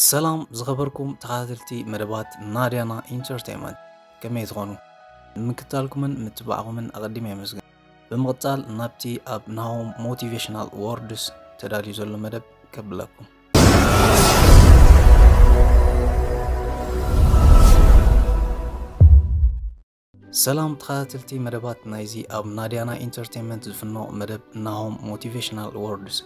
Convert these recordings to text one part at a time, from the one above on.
ሰላም ዝኸበርኩም ተኸታተልቲ መደባት ናድያና ኢንተርቴንመንት ከመይ ትኾኑ? ንምክታልኩምን ምትባዕኹምን ኣቐዲመ የመስግን። ብምቕጻል ናብቲ ኣብ ናሆም ሞቲቬሽናል ወርድስ ተዳልዩ ዘሎ መደብ ከብለኩም። ሰላም ተኸታተልቲ መደባት ናይዚ ኣብ ናድያና ኢንተርቴንመንት ዝፍኖ መደብ ናሆም ሞቲቬሽናል ወርድስ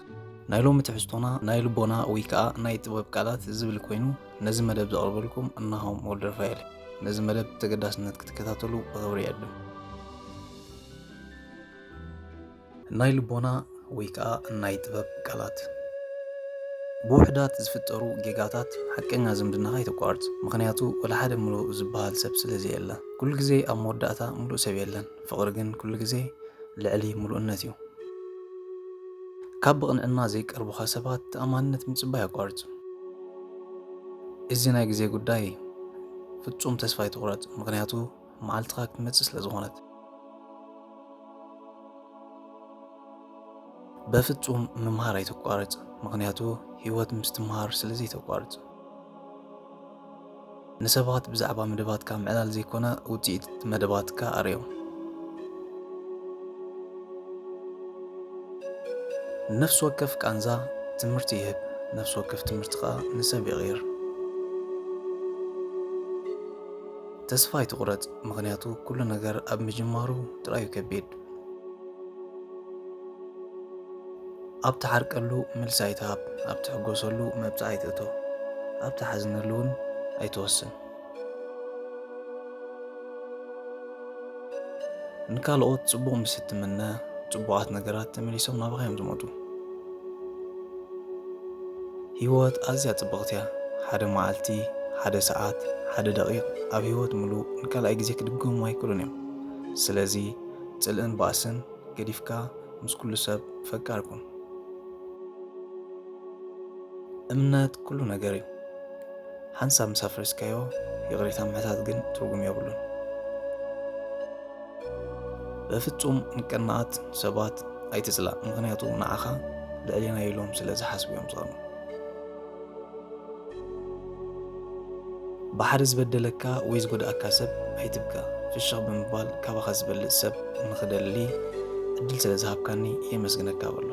ናይ ሎሚ ትሕዝቶና ናይ ልቦና ወይ ከዓ ናይ ጥበብ ቃላት ዝብል ኮይኑ ነዚ መደብ ዘቕርበልኩም ናሆም ወልደረፋኤል ነዚ መደብ ተገዳስነት ክትከታተሉ ብኽብሪ የዕድም ናይ ልቦና ወይ ከኣ ናይ ጥበብ ቃላት። ብውሑዳት ዝፍጠሩ ጌጋታት ሓቀኛ ዝምድናኻ ኣይተቋርጽ፣ ምኽንያቱ ወላ ሓደ ምሉእ ዝበሃል ሰብ ስለ ዘየለ። ኩሉ ግዜ ኣብ መወዳእታ ምሉእ ሰብ የለን፣ ፍቕሪ ግን ኩሉ ግዜ ልዕሊ ምሉእነት እዩ። ካብ ብቕንዕና ዘይቀርቡኻ ሰባት ተኣማንነት ምጽባይ ኣቋርጽ። እዚ ናይ ግዜ ጉዳይ እዩ፣ ፍጹም ተስፋ ኣይትቑረጽ፣ ምኽንያቱ። መዓልትኻ ክትመጽእ ስለ ዝኾነት በፍጹም ምምሃር ኣይተቋርጽ፣ ምክንያቱ ህይወት ምስ ትምሃር ስለ ዘይተቋርጽ። ንሰባት ብዛዕባ መደባትካ ምዕላል ዘይኮነ ውጽኢት መደባትካ ኣርዮም። ነፍሲ ወከፍ ቃንዛ ትምህርቲ ይህብ፣ ነፍሲ ወከፍ ትምህርቲ ከኣ ንሰብ ይቕይር። ተስፋ ኣይትቑረጽ፣ ምኽንያቱ ኩሉ ነገር ኣብ ምጅማሩ ጥራዩ ከቢድ። ኣብ ትዓርቀሉ መልሲ ኣይትሃብ፣ ኣብ ትሕጎሰሉ መብጽዓ ኣይትእቶ፣ ኣብ ትሓዝነሉ እውን ኣይትወስን። ንካልኦት ጽቡቕ ምስ እትምነ፣ ጽቡቓት ነገራት ተመሊሶም ናባኻ እዮም ዝመጡ። ህይወት ኣዝያ ጽብቕቲ እያ። ሓደ መዓልቲ፣ ሓደ ሰዓት፣ ሓደ ደቒቕ ኣብ ህይወት ምሉእ ንካልኣይ ግዜ ክድገሙ ኣይክእሉን እዮም። ስለዚ ጽልእን ባእስን ገዲፍካ ምስ ኩሉ ሰብ ፈቃር ኩን። እምነት ኩሉ ነገር እዩ። ሓንሳብ ምስ ኣፍረስካዮ ይቕሬታ ምሕታት ግን ትርጉም የብሉን። በፍጹም ንቅናኣት ሰባት ኣይትጽላእ፣ ምኽንያቱ ንዓኻ ልዕሌና ኢሎም ስለ ዝሓስቡ እዮም ዝቐኑ። ብሓደ ዝበደለካ ወይ ዝጎድኣካ ሰብ ኣይትብከ፣ ፍሽኽ ብምባል ካባኻ ዝበልጽ ሰብ ንኽደሊ ዕድል ስለ ዝሃብካኒ የመስግነካ በሎ።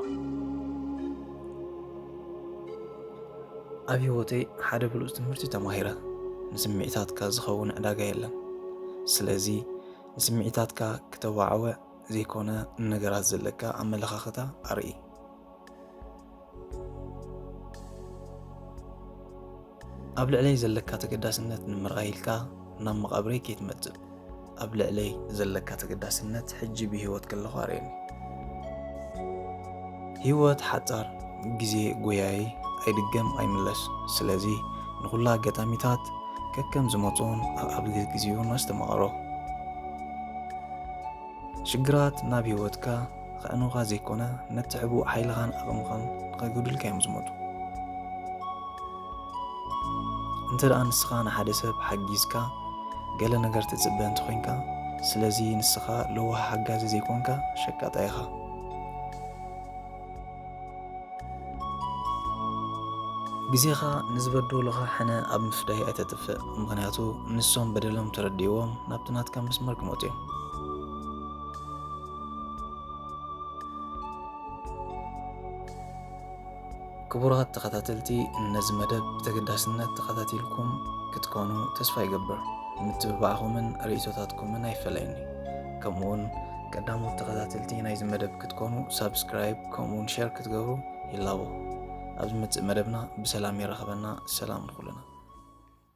ኣብ ህይወተይ ሓደ ብሉጽ ትምህርቲ ተማሂረ፣ ንስምዒታትካ ዝኸውን ዕዳጋ የለን። ስለዚ ንስምዒታትካ ክተዋዕወዕ ዘይኮነ ንነገራት ዘለካ ኣመለኻኽታ ኣርኢ። ኣብ ልዕለይ ዘለካ ተገዳስነት ንምርኣይ ኢልካ ናብ መቓብረይ ከይትመጽእ። ኣብ ልዕለይ ዘለካ ተገዳስነት ሕጂ ብህይወት ከለኹ ኣርእየኒ። ህይወት ሓጻር ግዜ ጎያዪ ኣይድገም ኣይምለስ ስለዚ ንኹላ ኣጋጣሚታት ከከም ዝመጽኡን ኣብ ግዜኡን ኣስተማቕሮ። ሽግራት ናብ ህይወትካ ኸዕኑኻ ዘይኮነ ነቲ ሕቡእ ሓይልኻን ዓቕምኻን ንኸይጎድልካ እዮም ዝመቱ። እንተ ደኣ ንስኻ ንሓደ ሰብ ሓጊዝካ ገለ ነገር ትጽበ እንተኾይንካ ስለዚ ንስኻ ለዋህ ሓጋዚ ዘይኮንካ ሸቃጣ ኢኻ። ግዜኻ ንዝበደሉኻ ሕነ ኣብ ምፍዳይ ኣይተጥፍእ ምክንያቱ ንሶም በደሎም ተረዲእዎም ናብቲ ናትካ መስመር ክመፁ እዮም ክቡራት ተኸታተልቲ ነዚ መደብ ብተገዳስነት ተኸታቲልኩም ክትኮኑ ተስፋ ይገብር። ምትብባዕኹምን ርእይቶታትኩምን ኣይፈለየኒ። ከምኡውን ቀዳሞት ተኸታተልቲ ናይዚ መደብ ክትኮኑ ሳብስክራይብ ከምኡውን ሸር ክትገብሩ ይላቦ። ኣብ ዝመፅእ መደብና ብሰላም የራኽበና። ሰላም ንኹልና።